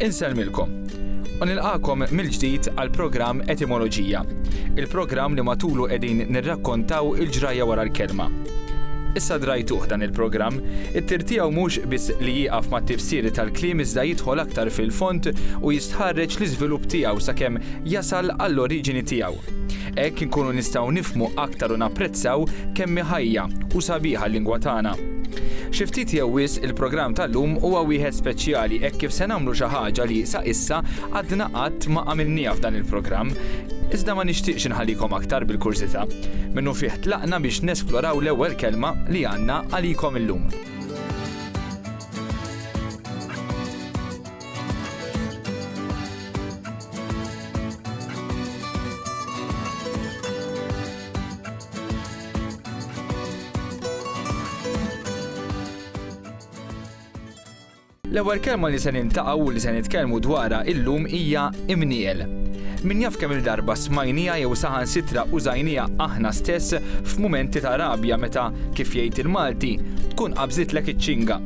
Inselmilkom. U nilqakom mill-ġdid għal programm Etimoloġija. Il-programm li matulu qegħdin nirrakkontaw il-ġrajja wara l-kelma. Issa drajtuh dan il-programm, it-tir tiegħu mhux biss li jieqaf ma' tifsiri tal-kliem iżda jidħol aktar fil-fond u jistħarreġ l-iżvilupp tiegħu sakemm jasal għall-oriġini tiegħu. Hekk inkunu nistgħu nifhmu aktar u napprezzaw kemm hi ħajja u sabiħa l-lingwa tagħna. Xi ftit jew wisq il-programm tal-lum huwa wieħed speċjali hekk kif se nagħmlu xi ħaġa li sa issa għadna qatt ma għamilnieha f'dan il-programm. Iżda ma nixtieqx inħallikom aktar bil-kurżità. Minnufih tlaqna biex nesploraw l-ewwel kelma li għandna għalikom illum. L-ewwel kelma li se nintaqgħu u li se nitkellmu dwarha illum hija imniel. Min jaf kemm il-darba smajnija jew saħan sitra użajnija aħna stess f'mumenti ta' rabja meta kif jgħid il-Malti tkun qabżitlek iċ-ċinga.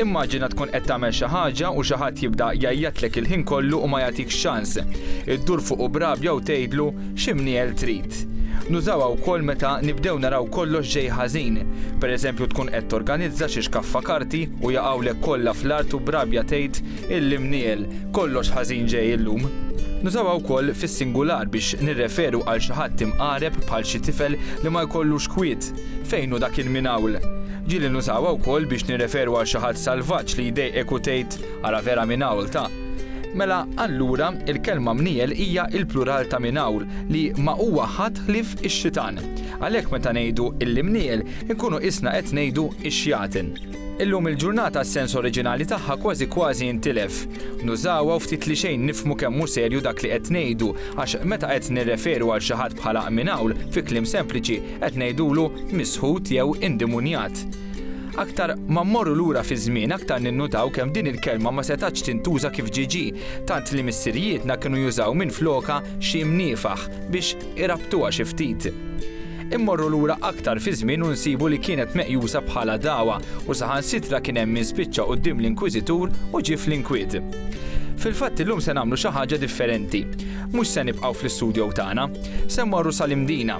Immaġina tkun qed tagħmel xi ħaġa u xi ħadd jibda jgħajjatlek il-ħin kollu u ma jagħtikx ċans. Iddur fuqu b'rabja u tgħidlu, X'imniegħel trid? Nużawha wkoll meta nibdew naraw kollox ġej ħażin. Pereżempju tkun qed torganizza xi xkaffa karti u jaqgħulek kollha fl-art u b'rabja tgħid, L-imniegħel, kollox ħażin ġej illum. Nużawha wkoll fis-singular biex nirreferu għal xi ħadd imqareb bħal xi tifel li ma jkollux kwiet. Fejn hu dak il-mingħawl? Ġieli nużawha wkoll biex nirreferu għal xi ħadd salvaġġ li jdejqek u tgħid, Ara vera minawlta! Mela, allura, il-kelma mniegħel hija l-plural ta' minawl, li ma huwa ħadd ħlief ix-xitan. Għalhekk meta ngħidu l-imniegħel, inkunu qisna qed ngħidu x-xjaten. Illum il-ġurnata s-sens oriġinali tagħha kważi kważi intilef. Nużawha u ftit li xejn nifhmu kemm hu serju dak li qed ngħidu, għax meta qed nirreferu għal xi ħadd bħala minawl, fi kliem sempliċi, Qed ngħidulu misħut jew indimunjat. Aktar ma mmorru lura fiż-żmien aktar ninnutaw kemm din il-kelma ma setgħatx tintuża kif ġiġi, tant li missirijietna kienu jużaw minflokha xi mniefaħ biex irabtuha xi ftit. Immorru lura aktar fiż-żmien u nsibu li kienet meqjusa bħala dagħwa u saħansitra kien hemm min spiċċa quddiem l-inkwiżitur u ġie fl-inkwiet. Fil-fatt illum se nagħmlu xi ħaġa differenti. Mhux se nibqgħu fl-istudjow tagħna. Se mmorru sal-Imdina.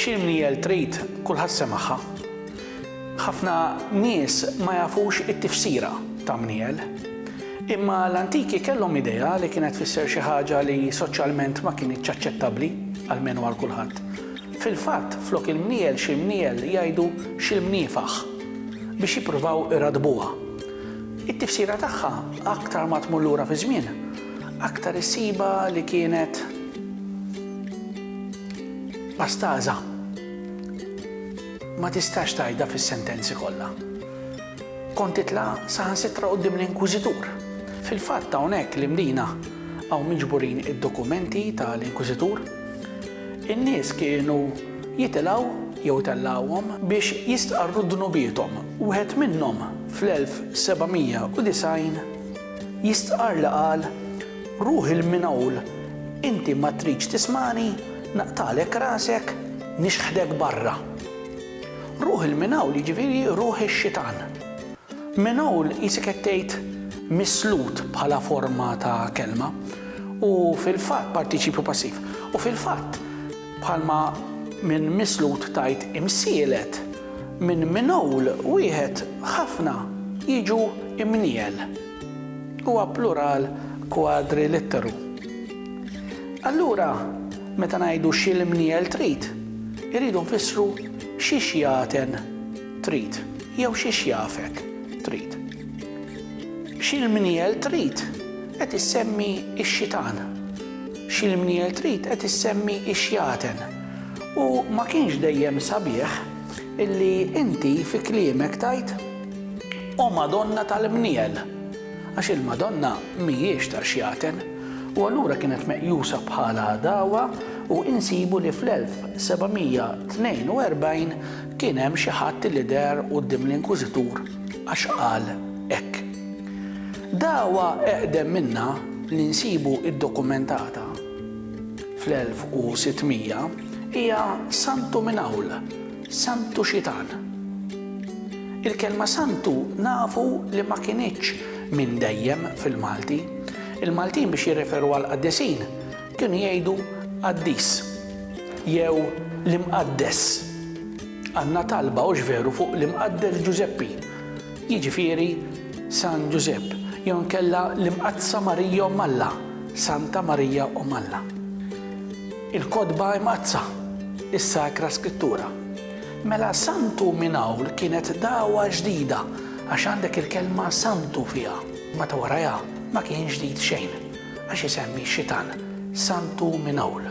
Xi mniel trid, kulħadd semagħha. Ħafna nies ma jafux it-tifsira ta' mniel. Imma l-antiki kellhom idea li kienet tfisser xi ħaġa li soċjalment ma kinitx aċċettabbli, almenu għal kulħadd. Fil-fatt, flok il-mniel xi mniel jgħidu xi mniefaħ biex jippruvaw iradbuha. It-tifsira tagħha aktar ma tmur lura fiż-żmien, Aktar issibha li kienet pastaża. Ma tistax tgħidha fis-sentenzi kollha. Kont titla' saħansitra quddiem l-inkwiżitur. Fil-fatt hawnhekk l-imdina hawn miġburin id-dokumenti tal-inkwiżitur. In-nies kienu jitilgħu jew itellgħuhom biex jistqarru dnubiethom. Wieħed minnhom fl-1790 Jistqarr li qal, Ruħi l-minhawl, inti ma tridx tismagħni, naqtagħlek rasek, nixħdek barra. Ruħi l-minhawl jiġifieri ruħ ix-xitan. Minhawl qisek qed tgħid mislut bħala forma ta' kelma u fil-fatt partiċipju passiv. U fil-fatt, Bħalma minn mislud tgħid imsielet, minn minwl wieħed ħafna jiġu imniel. Huwa plural kwadrilitteru. Allura, meta ngħidu xi l-imniel trid, irridu nfissru xi xjaten trid jew xi xjafet trid. Xi l-mniel trid qed issemmi x-xitan. X'il-mnier trid qed issemmi x-xjaten. U ma kienx dejjem sabiħ illi inti fi kliemek tgħid, O Madonna tal-mniel! Għax il-Madonna mhijiex ta' xjaten. U allura kienet meqjusa bħala għadawa u insibu li fl-1742 kien hemm xi ħadd illi deher quddiem l-Inkwiżitur għax qal hekk. Dagħwa eqdem minnha li nsibu ddokumentata fl-1600 hija Santu minn Għawla, Santu Xitan. Il-kelma Santu nafu li ma kinitx minn dejjem fil-Malti. Il-Maltin biex jirreferu għall-qaddisin kienu jgħidu qaddis jew l-imqaddes. Għandna talba hux veru fuq l-Imqaddes Ġużeppi. jiġifieri San Ġużepp, jew inkella l-Imqaddsa Marija Omm Alla, Santa Marija Omm Alla. Il-Kotba Imqaddsa, is-Sakra Skrittura. Mela Santu minn hawn kienet dagħwa ġdida għax għandek il-kelma Santu fiha, ma ta' warajha ma kien ġdid xejn, għax isemmi x-xitan, Santu minn hawn.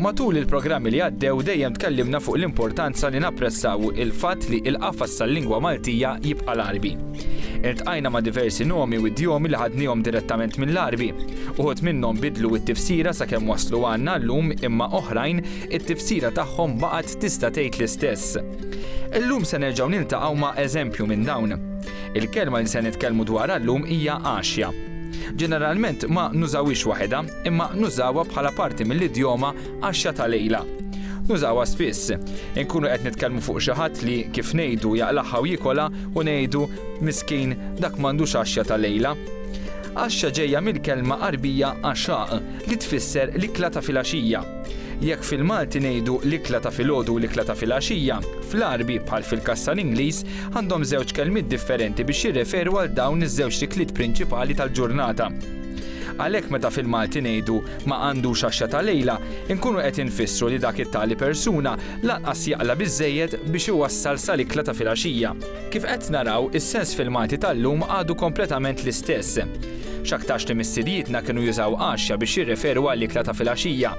Matul il-programmi li għaddew dejjem tkellimna fuq l-importanza li napprezzaw il-fatt li l-qafas tal-lingwa Maltija jibqa' l-Għarbi. Iltqajna ma' diversi nomi u idjomi li ħadniehom direttament mill-Għarbi. Uħud minnhom bidlu t-tifsira sakemm waslu għandna llum imma oħrajn it-tifsira tagħhom baqgħet tista' tgħid l-istess. Illum se nerġgħu niltaqgħu ma' eżempju minn dawn. Il-kelma li se nitkellmu dwarha llum hija għaxja. Ġeneralment ma nużawhiex waħedha, imma nużawha bħala parti mill-idjoma għaxja ta' lejla. Nużawha spiss. Inkunu qed nitkellmu fuq xi ħadd li, kif ngħidu, jaqlagħha u jiekolha u ngħidu, miskin, dak m'għandux għaxja ta' lejla. Għaxja ġejja mill-kelma Għarbija għaxaq, li tfisser l-ikla ta' filgħaxija. Jekk fil-Malti ngħidu l-ikla ta' filgħodu u l-ikla ta' filgħaxija, fl-Għarbi, bħal fil-każ tal-Ingliż, għandhom żewġ kelmiet differenti biex jirreferu għal dawn iż-żewġ ikliet prinċipali tal-ġurnata. Għalhekk meta fil-Malti ngħidu ma għandux għaxxa ta' lejla, inkunu qed infissru li dak it-tali persuna lanqas jaqla' biżżejjed biex iwassal sal-ikla ta' filgħaxija. Kif qed naraw, is-sens fil-Malti tal-lum għadu kompletament l-istess. X'aktarx li missirijietna kienu jużaw għaxxa biex jirreferu għall-ikla ta' filgħaxija.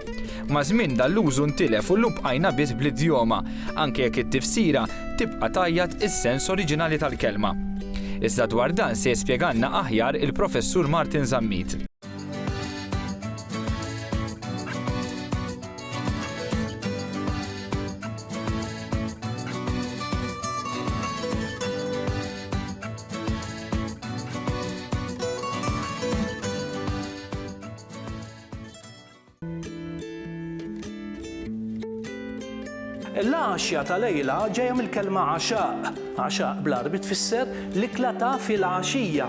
Maż-żmien dan l-użu ntilef u llum bqajna biss bl-idjoma, anke jekk it-tifsira tibqa' tgħajjat is-sens oriġinali tal-kelma. Iżda dwar dan se jispjegalna aħjar il-Professur Martin Zammit. Il-għaxja ta' lejla ġejja mill-kelma għaxaq. Għaxaq bl-Għarbi tfisser l-ikla ta' filgħaxija.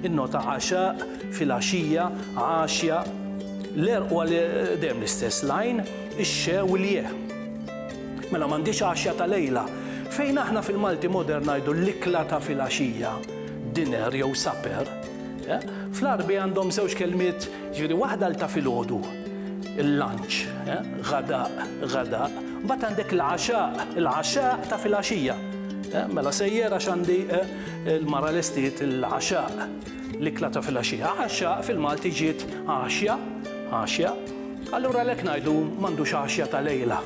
Innota għaxaq, filgħaxija, għaxja. L-għerq huwa dejjem l-istess, l-għajn, ix-xe u l-je. Mela m'għandix għaxja ta' lejla. Fejn aħna fil-Malti modern ngħidu l-ikla ta' filgħaxija, dinner jew supper, Fl-Għarbi għandhom żewġ kelmiet, jiġifieri waħda għal ta' filgħodu, il-lunch, ghadaq, ghadaq, mbagħad għandek l-'għaxaq, il-'għaxaq ta' filgħaxija. Mela sejjer għax għandi l-mara lestiet il-'għaxaq, l-ikla ta' filgħaxija. Għaxaq fil-Malti ġiet għaxja, għaxja. Allura għalhekk ngħidu m'għandux għaxja ta' lejla.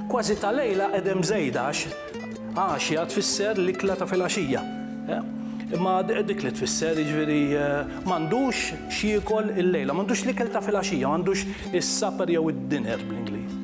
Kważi ta' lejla qegħdem żejda għax Għaxja tfisser l-ikla ta' filgħaxija. Imma dik li tfisser jiġifieri m'għandux x'jiekol illejla, m'għandux l-ikel ta' filgħaxija, m'għandux is-supper jew id-dinner bl-Ingliż.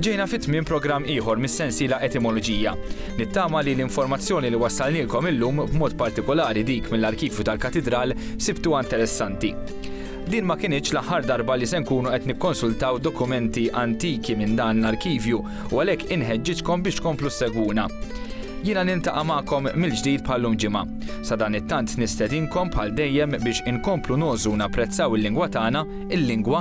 Ġejna fi tmiem programm ieħor mis-sensiela Etimoloġija. Nittama li l-informazzjoni li wassalnielkom illum, b'mod partikolari dik mill-arkivju tal-Katidral, sibtuha interessanti. Din ma kinitx l-aħħar darba li se nkunu qed nikkonsultaw dokumenti antiki minn dan l-arkivju u għalhekk inħeġġiġkom biex tkomplu ssegwuna. Jiena niltaqa' magħkom mill-ġdid bħallum ġimgħa. Sa dan it-tant nistedinkom bħal dejjem biex inkomplu nogħżu napprezzaw il-lingwa tagħna, il-lingwa